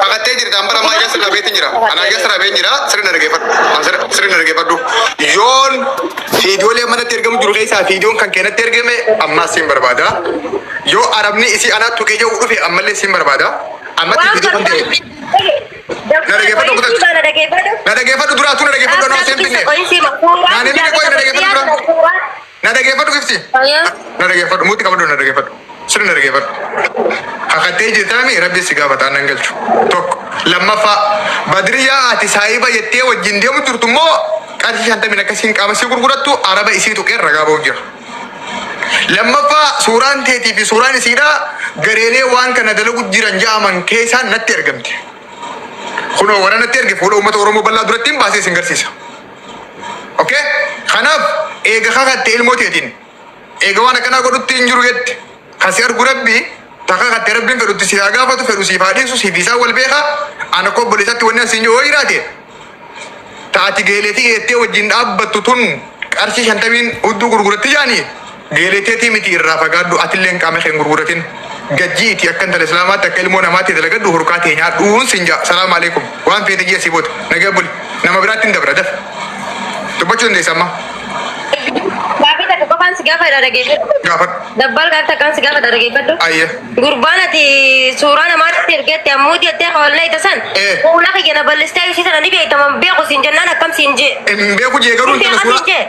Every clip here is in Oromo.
Kakattee jirta amma amma ija sirna beetti jira. Ana ija sirna beetti jira sirna dhaggeeffadhu. An sirna- Sirna dhaggeeffadhu. Yoon fiidiyoolee manatti ergamu jiru keessaa fiidiyoon kan keenatti ergame ammaas siin barbaada. Yoo arabni isii anaa tuqee jedhu dhufe ammallee siin barbaada. Ammatti Waan fiidiyoo kan ta'e. barbaadu. Na dhaggeeffadhu duraatuu na dhaggeeffadhu anoo seen binne. Naanni biyya qoyi na dhaggeeffadhu duraatuu. Na dhageeffadhu gifti. Ayaa. Na dhageeffadhu muuti qabadhu na dhageeffadhu. Sirri na dhageeffadhu. Hakattee jirtaami rabbi si gaafata annan galchu. Tokko. Lammaffaa badriyaa ati saahiba jettee wajjin deemu jirtu immoo qarshii shantamin akkasiin qaama si gurgurattu araba isii tuqeen ragaa ba'uuf jira. Lammaffaa suuraan teetii fi suuraan isiidha gareelee waan kana dalagu jiran ja'aman keessaan natti ergamte. Kunoo warra natti erge fuula uummata Oromoo bal'aa duratti hin baasee sin garsiisa. Okay? Kanaaf eega kakatte ilmoo teetiin eega waan akkanaa godhutti hin jiru jette kan si argu rabbi ta kakatte rabbiin fedhutti si haa gaafatu fedhu siif haa dhiisu siif isaa wal beeka ana koo obboleessatti wanni asiin yoo jiraate ta ati geeleetii jettee wajjin dhaabbattu tun qarshii shantamiin hudduu gurguratti jaanii Geelee teetii miti irraa fagaadhu atilleen qaama kee hin gurguratin gajjii iti akka intala islaamaatti akka ilmoo namaatti dalagadhu hurkaa tee nyaadhuun sin ja'a salaam aleekum waan feete jii asii booda nagaa buli nama biraatti hin dabra daf dubbachuu dandeessa amma Gaafii takka qofaan si gaafadha dhageeffadhu. gaafadhu Dabbal gaafii takkaan si gaafadha dhageeffadhu. ayya Gurbaan ati suuraa namaatti ergetti ammuuti jettee hawallee ita san. Eh. Fuula kiyya na bal'istee ishii sana ni beektaman beeku siin jennaan akkam siin jee. hin beeku jee garuu Hin intala beeku suuraa siin jee.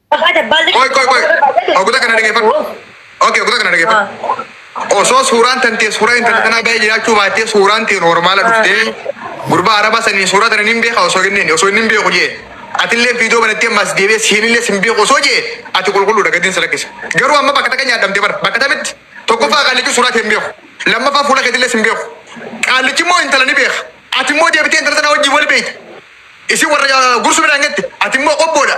Qoy qoy qoy. Oguta kana dhaggeeffadhu. Okay, oguta kana dhaggeeffadhu. Osoo suuraan tantee suuraa intalli tanaa baay'ee jiraachuu baattee suuraan tee noormaala dhuftee gurbaa araba saniin suuraa tana nin beeka osoo kenneen osoo nin beeku jee atillee viidiyoo banattee ammas deebee siinillee sin beeku osoo jee ati qulqulluudha gadiin si lakkisa. Garuu amma bakka takka nyaadhamte bara bakka tamitti tokkoffaa qaallichi suuraa tee hin beeku lammaffaa fuula keetillee sin beeku qaallichi immoo intala ni beeka ati immoo deebitee intala tanaa wajjin wal beekta. isin warra gursu midhaan gette ati immoo qobboodha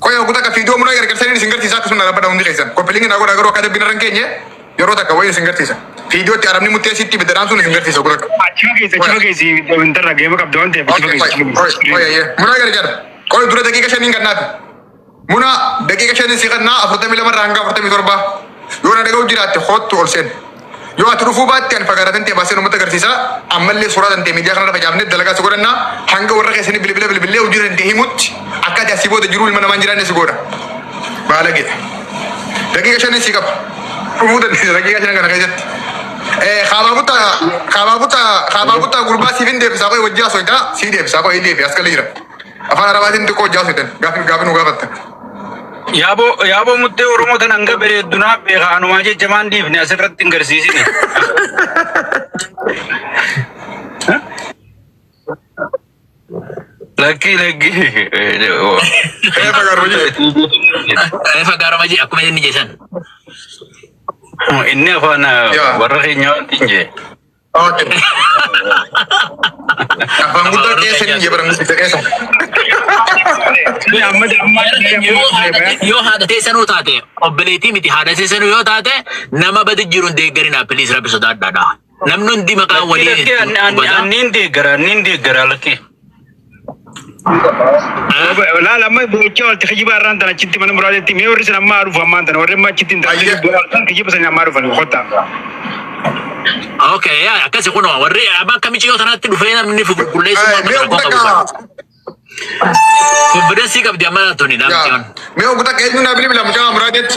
Qoya ogu taka fiidoo muna gargarsanin isin garsiisa akkasuma na rabbadha hundi keessan. Koppilingi na godha garuu akka adabbiin irra hin keenye yeroo takka wayii isin garsiisa. Fiidoo itti arabni muttee sitti ibidda dhaamsuun isin garsiisa ogu takka. Achi fageessi achi fageessi intarra geema qabda waan ta'eef achi Okay, fageessi qoya, achi qoya, qoya, fageessi. ye. Muna gargar. Qoya dura daqiiqa shaniin kan naafi. Muna daqiiqa shaniin si kan naa afurtamii lama irraa hanga afurtamii torba. Yoo na dhaga'u jiraatte hoottu ol seen. Yoo ati dhufuu baatte ani fagaataa tantee baaseen uummata agarsiisa. Ammallee suuraa tantee miidiyaa kanarra facaafnee dalagaa si godhanna. Hanga warra keessanii bilbila bilbillee hojii tantee himutti akka ati asii booda jiruu ilma namaa hin jiraanne si goona. Baalage. Daqiiqa shanin si qaba. Dhufuu dandeessa daqiiqa shanan kana keessatti. Eh, Kaabaa buttaa kaabaa buttaa kaabaa buttaa gurbaa siif hin deebisaa qoy wajjaa soytaa sii deebisaa qoy deebi as kala jira. Afaan Arabaatiin xiqqoo wajjaa soytan gaafi gaafi nu gaafatta. Yaaboo yaaboo muttee Oromoo tan hanga bareeddu naaf beeka anumaa jecha maan dhiifne asirratti hin garsiisine. Lakkii lakkii. Reefa garuu jee. Reefa gaaroma jee akkuma inni jeesan. Inni afaan Yaa. warra keenya wanti hin jee. Okay. Afaan guddoo keessa ni jibran guddisa keessa. Amma amma yoo haadha yoo haadha teessanuu taate obboleettii miti haadha teessanuu yoo taate nama badi jiruun deeggarinaa piliis rabbi sodaadhaadha. Namni hundi maqaa walii Lakki hubataa. anniin deeggara anniin deeggara lakki. Laal amma boocha walti kijiba irraan tan achitti mana muraatetti mee warri sin ammaa dhufu ammaan tan warri amma achitti hin taasisu Ayya. bu'aa kan kijiba sanii ammaa dhufan kottaa. Okay, yaa akkasi kun warri amma akka miciyoo tanaatti dhufee namni fi qulqulleessummaa Eh, mana mee rakkoo ogda qabu. kaa. Konfidensii qabdi amma tuni yaa. daamtiyoon. Mee ogda keenyu naa bilbila mucaa muraatetti.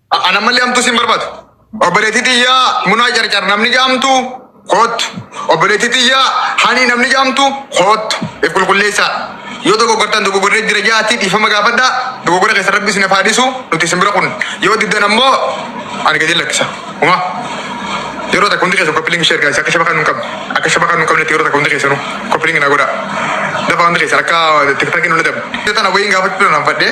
A- An ammallee hamtuu siin barbaadu. Obboleettii tiyyaa munaa carcar namni jaamtu koottu. Obboleettii tiyyaa hanii namni jaamtu koottu. If qulqulleessaa. Yoo dogoggortan dogoggorree jira jaatti dhiifama gaafadha. Dogoggora keessa rabbi isin hafaa dhiisu nuti isin bira kun. Yoo diddan ammoo ani gadi lakkisa. Uma. Yeroo takka hundi keessan koppilingi ishee ergaa akka shabakaan nu hin qabne. Akka shabakaan nu hin qabnetti yeroo takka hundi keessanuu koppilingi na godha. Dafa hundi keessan akka tiktakiin nu dadabu. Yoo tana wayiin gaafachuu nan fadhee.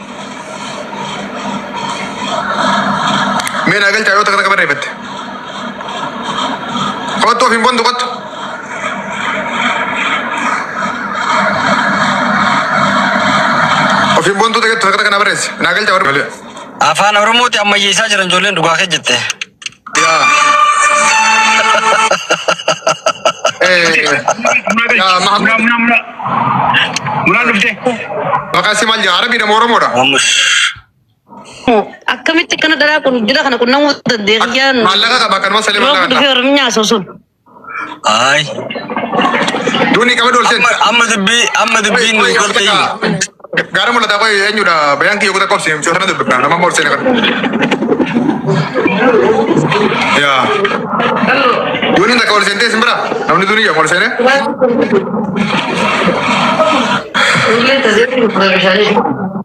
Mee naa galchaa yoo takka takka barreeffatte. Kottu ofiin bontu kottu. Ofiin bontuu takka takka naa barreessi. Naa galchaa warri. Afaan Oromooti ammayyeessaa jiran ijoolleen dhugaa kee jette. Yaa. Yaa Mahamud. Munaa dhuftee. Maqaan si maal jedha? Arabiidha moo Oromoodha? Mamus. Akkamitti akkana dharaa kun jira kana qunnamuu dandeenya. Maallaqa qaba kanuma salee Yeroo maallaqa dhufee qaba. Oromiyaa sun sun. Ayi. Duuni qaba doolteen. Amma amma dubbii amma dubbii nu gorte himi. Gaara mul'ataa qoy eenyudha? Bayaan kiyya kutaa qobsi mucaa sana dubbifna. Nama moorsi kana. Yaa. Duuni takka ol seentee isin bira. Namni duuni yaa ol seenee.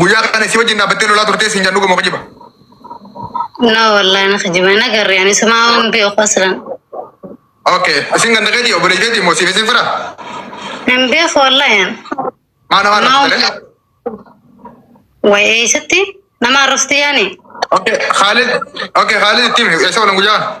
Guyyaa kana si wajjin dhaabbattee lolaa turtee siin jedhu dhuguma kijiba. No wallahi na kijiba na garri ani suma waan beeku aslan. Okay, isin ganda keetii obbo Leejeetii moo siif isin fira? Hin beeku wallahi an. Maana waan Maal- raftalee? Way eessatti nama arrafti yaani. Okay, Khalid, okay, Khalid ittiin eessa oolan guyyaa kana?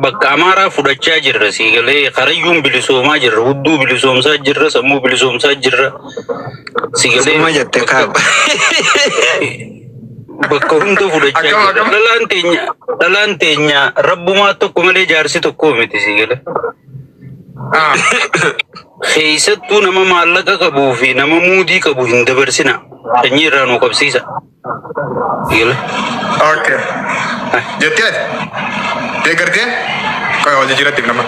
Bakka Amaaraa fudhachaa jirra sii galee karayyuun bilisoomaa jirra hudduu bilisoomsaa jirra sammuu bilisoomsaa jirra sii galee Suma jette kaab. bakka hunda fudhachaa Akkam, jirra akkam? dhalaan teenya dhalaan teenya rabbumaa tokko malee jaarsi tokkoo miti sii galee Ah, keessattuu nama maallaqa qabuu fi nama muudii qabu hin dabarsina sanyii irraa nu qabsiisa. Dhiirri. Okay. Jettee ati? Deeggartee? Qoy hojii jiratti nama.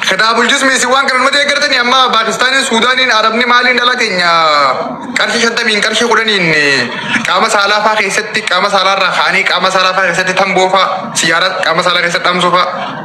Kitaaba bulchus miisi waan kana nama deeggartanii amma Paakistaaniin, Suudaaniin, Arabni maaliin dhala keenya qarshii shantamiin qarshii kudhaniin qaama saalaa fa'aa keessatti qaama saalaa irraa kaanii qaama saalaa fa'aa keessatti tamboo fa'aa siyaaraa qaama saalaa keessatti dhamsuu fa'aa.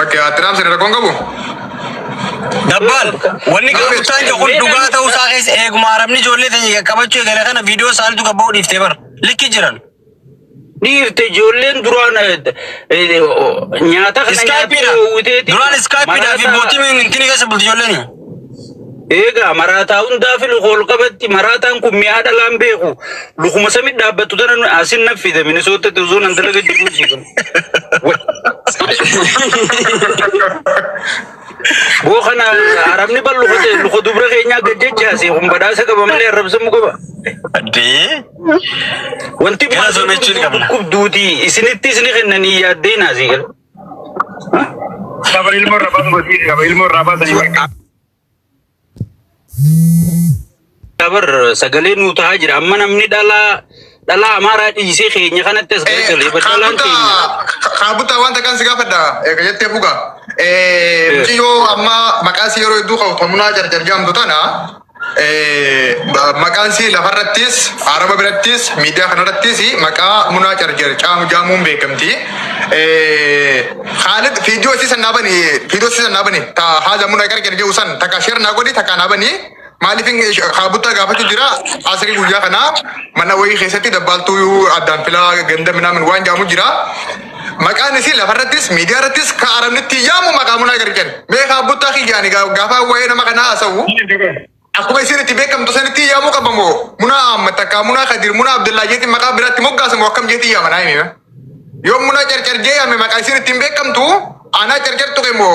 Okay, attiraam sirrii rakkoon qabu. Dabbaan wanni gaafachaa jiru kun dhugaa ta'uu isaa keessa eeguma arabni ijoollee ta'e qaqqabachuu eegale kana viidiyoo isaaniitu gabba'uu dhiiftee bara. Likki jiran. dhiirte ijoolleen duraan nyaata kana Iskaayipiidha. Duraan iskaayipiidha fi mootii mintiin keessa bulti ijoolleen. Eegaa maraataa hundaa fi luka ol qabatti maraataan kun mi'aa dhalaan beeku lukuma samit dhaabbattu tana nu- asin naf fide minisoottatti utuu nan dalaga jiruu si kun. Boo kana arabni bal luka ta'e luka dubra keenyaa gad jechaase kun badhaasa qaba malee arrabsamu qaba. Addee. Wanti Gara zoonachuu ni qabna. dhukkubduuti isinitti isini kennanii yaaddee naasii gala. Saba ilmoo irraa baasuu barsiisi. Saba ilmoo irraa baasanii barka. Dabar sagalee nuu ta'aa jira. Amma namni dhalaa dhalaa amaaraa dhiisee keenya kanatti as gargalee baddalaan keenya. Kaabuttaa wanta kan si gaafadha. Eega jettee fuga. Mucayyoo amma maqaa si yeroo hedduu ka'u tomunaa jarjar jedhamtu tana. Maqaan isii lafarrattis, Araba birattis, miidiyaa kanarrattis maqaa Munaa Carjar caamu jaamuun beekamti. Khaalid fiidiyoo isii san naabani, fiidiyoo isii san naabani. Ta haadha Munaa Carjar jedhu san takka sheer naa godhi takka naabani. Maaliif kaabuttaa gaafachuu jira asirii guyyaa kana mana wayii keessatti dabbaaltuu addaan filaa ganda minaamin waan jaamu jira. Maqaan isii lafarrattis miidiyaarrattis ka arabni ittiin yaamu maqaa munaa gadi jedhan. Mee kaa buttaa kiyyaani gaa- gaafa waa'ee nama kanaa haasa'u akkuma isiin itti beekamtu sanitti yaamuu qaba moo munaa Ahmad takkaa munaa Kadir munaa Abdullaa jeetiin maqaa biraatti moggaasa moo akkam jeetiin yaama naa himima. Yoo munaa carcar jee yaame maqaa isiin ittiin beekamtu anaa carcar tuqe moo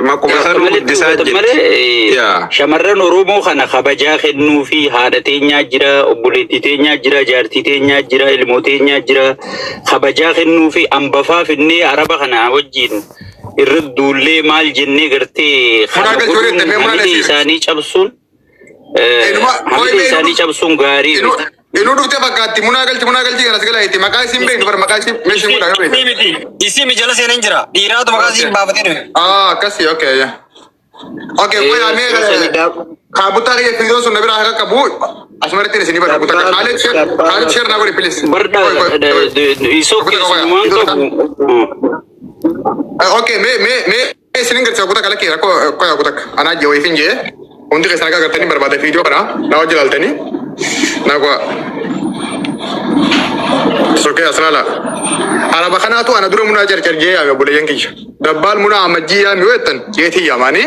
Maquma isaa nu guddisaa jirti. Shamarran Oromoo kana kabajaa kennuu fi haadha teenyaa jira, obboleettii teenyaa jira, jaartii teenyaa jira, ilmoo teenyaa jira. Kabajaa kennuu fi ambafaa finnee araba kana wajjin irra duullee maal jennee gartee kana godhuun hamilee isaanii cabsuun. Hamidee isaanii cabsuun gaarii miti. Inuu dhuftee fakkaatti munaa galchi munaa galchi kanas gala itti maqaa isiin beektu bara maqaa isiin meeshiin godha yoo beektu. miti. Isiin jala seenan jira. Dhiiraatu maqaa isiin baafatee dhufe. Ah akkasi okay ya. Okay qoy amee kaabutaa kiyya fiidoon sun na biraa akka qabu asumarratti isin ibadha butaa kan haalee sheer haalee sheer naa godhe pilis. Barda isoo keessumaan qabu. Okay mee mee mee. Isin hin garsiisa kuta kala kee rakko koya kutak anaa jee wayifin jee hundi keessan akka agartanii barbaada viidiyoo kana naa wajji laaltanii naa goa sokee aslaala araba kanaatu ana dura munaa carcar jee yaame obboleeyyan kiyya dabbaal munaa amajjii yaami weettan jeetii yaamaanii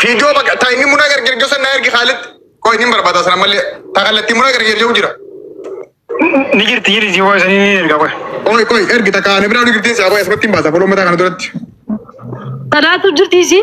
Fiidiyoo bakka taa inni muna gargar gosa na ergi Khalid. Koo inni barbaada sana malee taa kallattii muna gargar jiru jira. Ni jirti jiri si voice ni erga qoy. Koi koi ergi takka ani biraa ni girtiin si aboo asumatti hin baasa foloo mataa kana duratti. Tanaatu jirti isii.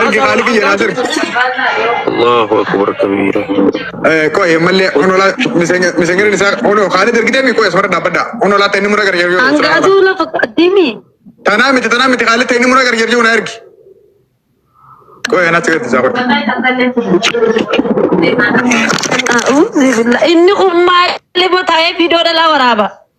Ergi qaali kiyya naas ergi. Allahu akbar kabiira. Eh, Qoy ammallee honolaa miseenyarri isaa honoo kaani ergitee mi qoy asmarra dhaabbadha. Honolaa ta'e inni mura gargar yoo. Hangaatu lafa qaddimi. Tanaa miti tanaa miti kaali ta'e inni mura gargar yoo na ergi. Qoy anaa sigarti isaa qoy. A'uuzi billaa. Inni ummaa ilmoo taa'ee viidiyoo dhalaa waraaba.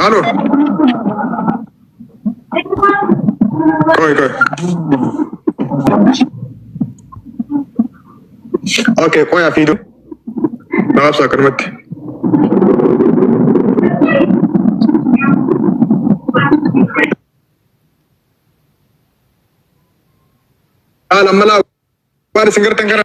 Halo. Koi koi. Oke, koi ya video. Maaf saa kanumatti. Haala malaa waan isin gartan kana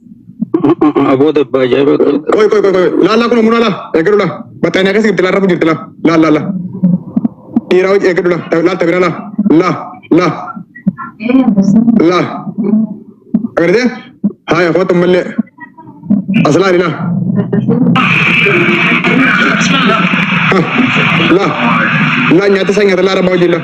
Aboo dabba ajaa'ibaa qaba. Qoy qoy qoy qoy laallaa kun muna laa eeggadhu laa battaa inni akkas jirti laa rafu jirti laa laa laa laa dhiiraa hojii eeggadhu laa laal tabira laa laa laa laa agartee haaya kootu mallee as laali laa laa laa nyaata isaa nyaata laa rabaa hojii laa.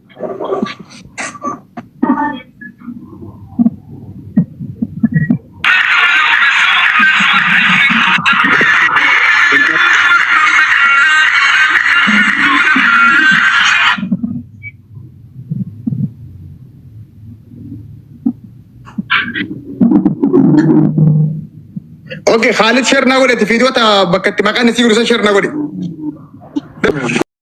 Okay, Khalid share na godhe, fiidiyoo ta bakka itti maqaan isii guddisan share na godhe.